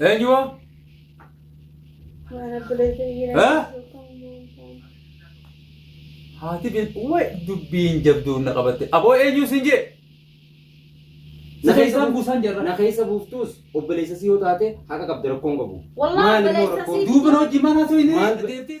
Eenyu moo? Mana buleetii Eh? jira. Haati bin way dubbiin jabduun na qabatte. Aboo eenyu sin jee? Na keessaan buusaan jarra. Na keessa buuftuus obboleessa si yoo taate haqa qabda rakkoon qabu. Wallah Maal immoo obboleessa rakkoon? sii- Duuba hojii manaa soo hin Maal- deemtee.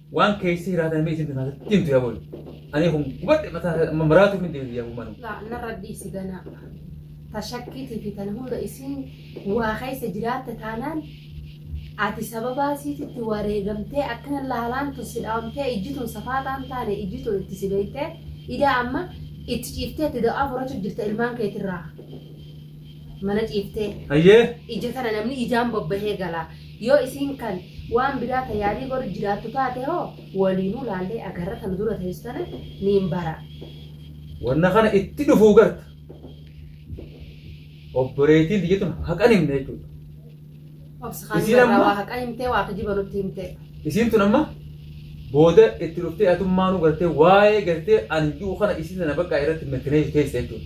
Waan keessi hiraatan mee isinti kaasatti himtu yaa booda. Ani kun gubadhe mataa amma maraatu hin deebisu yaa bumanu. Laa narra dhiisi ganaa. Tashakkiitii fi tan hunda isiin waa keessa jiraatte taanaan ati sababaa isiititti wareegamtee akkana laalaantu si dhaamtee ijjituun safaataan taane ijjituun itti si beektee idaa amma itti ciiftee itti da'aa furachuu jirta ilmaan keetirraa mana ciiftee Hayyee. ija tana namni ijaan bobbahee gala Yoo isiin kan waan biraa ta yaalii godhu jiraattu taate hoo waliinuu laallee agarra ta nu dura teessu tana niin bara. Wanna kana itti dhufuu garta. Obboleettiin tiyya tun haqa hin himne jechuudha. Obsi kaan Isiin irraa amma- waa haqa himtee waa kijiba nutti himtee. Isiin tun amma booda itti dhuftee atummaanuu gartee waa'ee gartee ani du'u kana isiin sana bakka irratti mirkaneessu teessa jechuudha.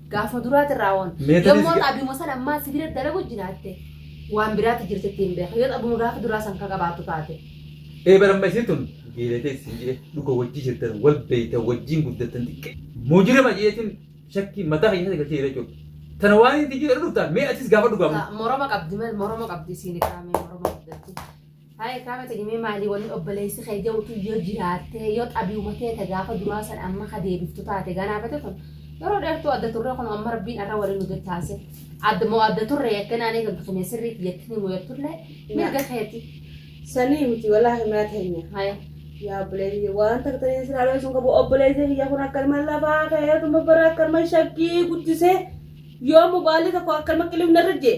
Gaafa duraati irraa waan. Meetira Yommuu siga- xaabima san ammaa sibiila dalagu jiraatte waan biraatti jirti ittiin beeka. Yoo xaabuma gaafa duraa san ka qabaattu taate. Ee baramma isiin tun geelatee isin jee dhuga wajjii jirtan wal beeytan wajjiin guddatan xiqqee. Mujirima jeetiin shakkii mataa keenya keessa galchee jira jechuudha. Tana waan itti jira dhuftaan mee atis gaafa dhugamu. Moroma qabdi mal moroma qabdi isiin qaamee moroma qabdi. Haa ekaa mata gimee maalii wanni obboleessi kee jawutu yoo jiraattee yoo xabiuma keeta gaafa duraa san amma ka deebiftu taate ganaafate kun yeroo dheertuu adda turree kun amma rabbiin arra waliin nu dettaase adda moo adda turree yakkin aanee kan tusumee sirrii kiyyatti ni muyattullee mirga keeti. Sanii miti walaahi mana teenya. Haya. Yaa obboleessi waan takka ta'ee siraa looyee sun qabu obboleessi kiyya kun akka ilma lafaa ka'eetuma bara akka ilma shaggii guddisee yoo mubaalli tokko akka ilma qilifna irra jee.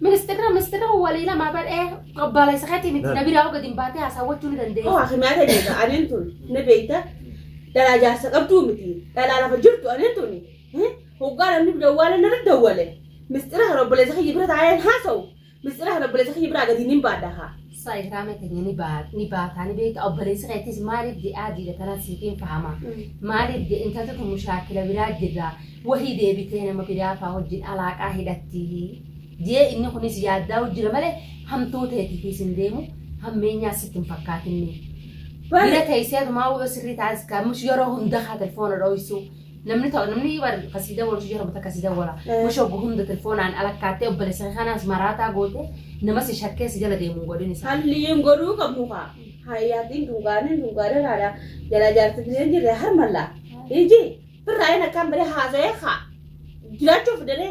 Ministirra ministirra kun walii lama badhee baala isa keetii miti na biraa gadi hin baatee haasawwachuu ni dandeenya. Hoo hakimaa ta'e beeka aneen tun na beekta dhalaa jaarsa qabduu miti dhalaa lafa jirtu aneen tuni hoggaa namni dawwaale narra dawwale mistira kan obboleessa kiyya bira taa'een haasa'u mistira kan obboleessa kiyya biraa gadi hin baadha haa. Sa ihraama keenya ni baa- ni baataa ni beekta obboleessi keettis maaliif je'aa jiidha tanan siif hin fahama maaliif je intalti tun mushaakila biraa jirra wahii deebitee nama biraa faa wajjin alaaqaa hidhatti jee inni kunis yaaddaa jira malee hamtuu teetiifis hin deemu hammeenyaa sitti hin fakkaatinni. Bira teessee adumaa wa'oo sirrii taasisa kamus yeroo hunda haa telefoona dhooysu namni ta'u namni bar kasii dawwalu si jarabata kasii dawwala Eh. mush oggu hunda telefoonaan alakkaattee obboleessa kanaas maraataa goote nama si shakkee si jala deemuun godhin isaa Halliin godhuu qabnu kaa. Hayyaatiin dunkaanii dunkaanii raadhaa jala jaarsi bileen jirre harmallaa. Iji birraa inni akkaan bade haasa'ee kaa. Jiraachuuf dalee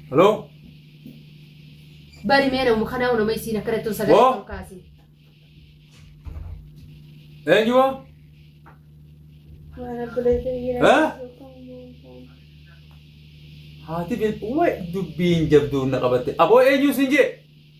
Hello? Bari mee nama kanaa nama isiin akkanatti on sagalee Woo. ol kaasi. Eenyuwa? Mana buleetiin Eh? jira. Haati beeku wayi dubbiin jabduun na qabatte. Aboo eenyu siin jee?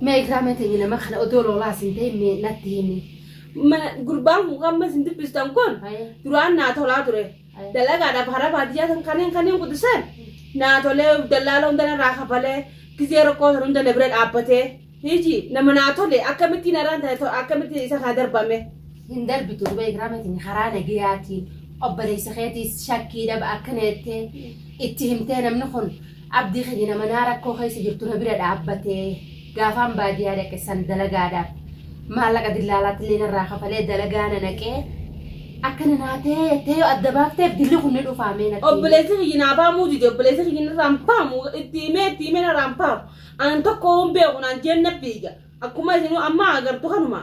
Mee ikraamee teenya nama kana odoo loolaas hin ta'in mee natti himi. Mana gurbaan kun kan isin dubbistan kun Ayee. duraan naa tolaa ture. Ayee. Dalagaadhaaf hara baadiyyaa san kanneen kanneen gudisan naa tolee dallaala hunda narraa kafalee gizee rakkoo san hunda na bira dhaabbatee hiji nama naa tole akkamitti narraan ta'e to- akkamitti isa kana darbame. Hin darbitu duba ikraamee teenya karaa nagayaatiin obboleessa keetiis shakkii dhaba akkana jettee itti himtee namni kun Abdii keenya nama naa rakkoo keessa jirtu na bira dhaabbatee gaafaan baadiyaa dhaqe san dalagaadhaaf maallaqa dillaalaatti illee narraa kafalee dalagaa na naqee akkana naa ta'ee jettee yoo adda baafteef dilli kun ni dhufaa mee natti. Obboleessi kiyyi naa baamuu dide obboleessi kiyyi narraan baamu itti himee itti himee narraan baamu an tokko hin beeku naan jeenna fiiga akkuma isinuu amma agartu kanuma.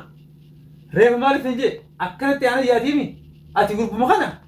Reefu maal isin jee akkanatti aanan yaadiimi ati gurbuma kana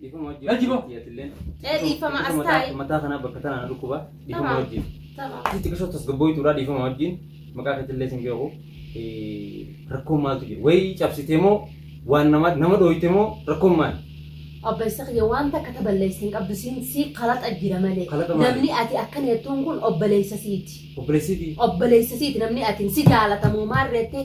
Dhiifama wajjin. Lajji boo. Atilleen. Ee, dhiifama as taa'i. Mataa kanaa bakka tanaa na dhukkuba. Dhiifama Tamaa. wajjin. Tamaa. Asitti qisoo tasgabbooytuudha dhiifama wajjin. Maqaa keetillee sin beeku. Eh, Rakkoon maaltu jira? Wayii cabsitee moo waan nama nama dhooyte moo rakkoon maali? Abba isa kiyya waan takka ta balleessa hin qabdu siin sii kalaqa jira malee. Kalaqa maali? Namni ati akka nettuun kun obboleessa siiti. Obboleessiitii. Obboleessa siiti namni ati si jaalatamu maarreettee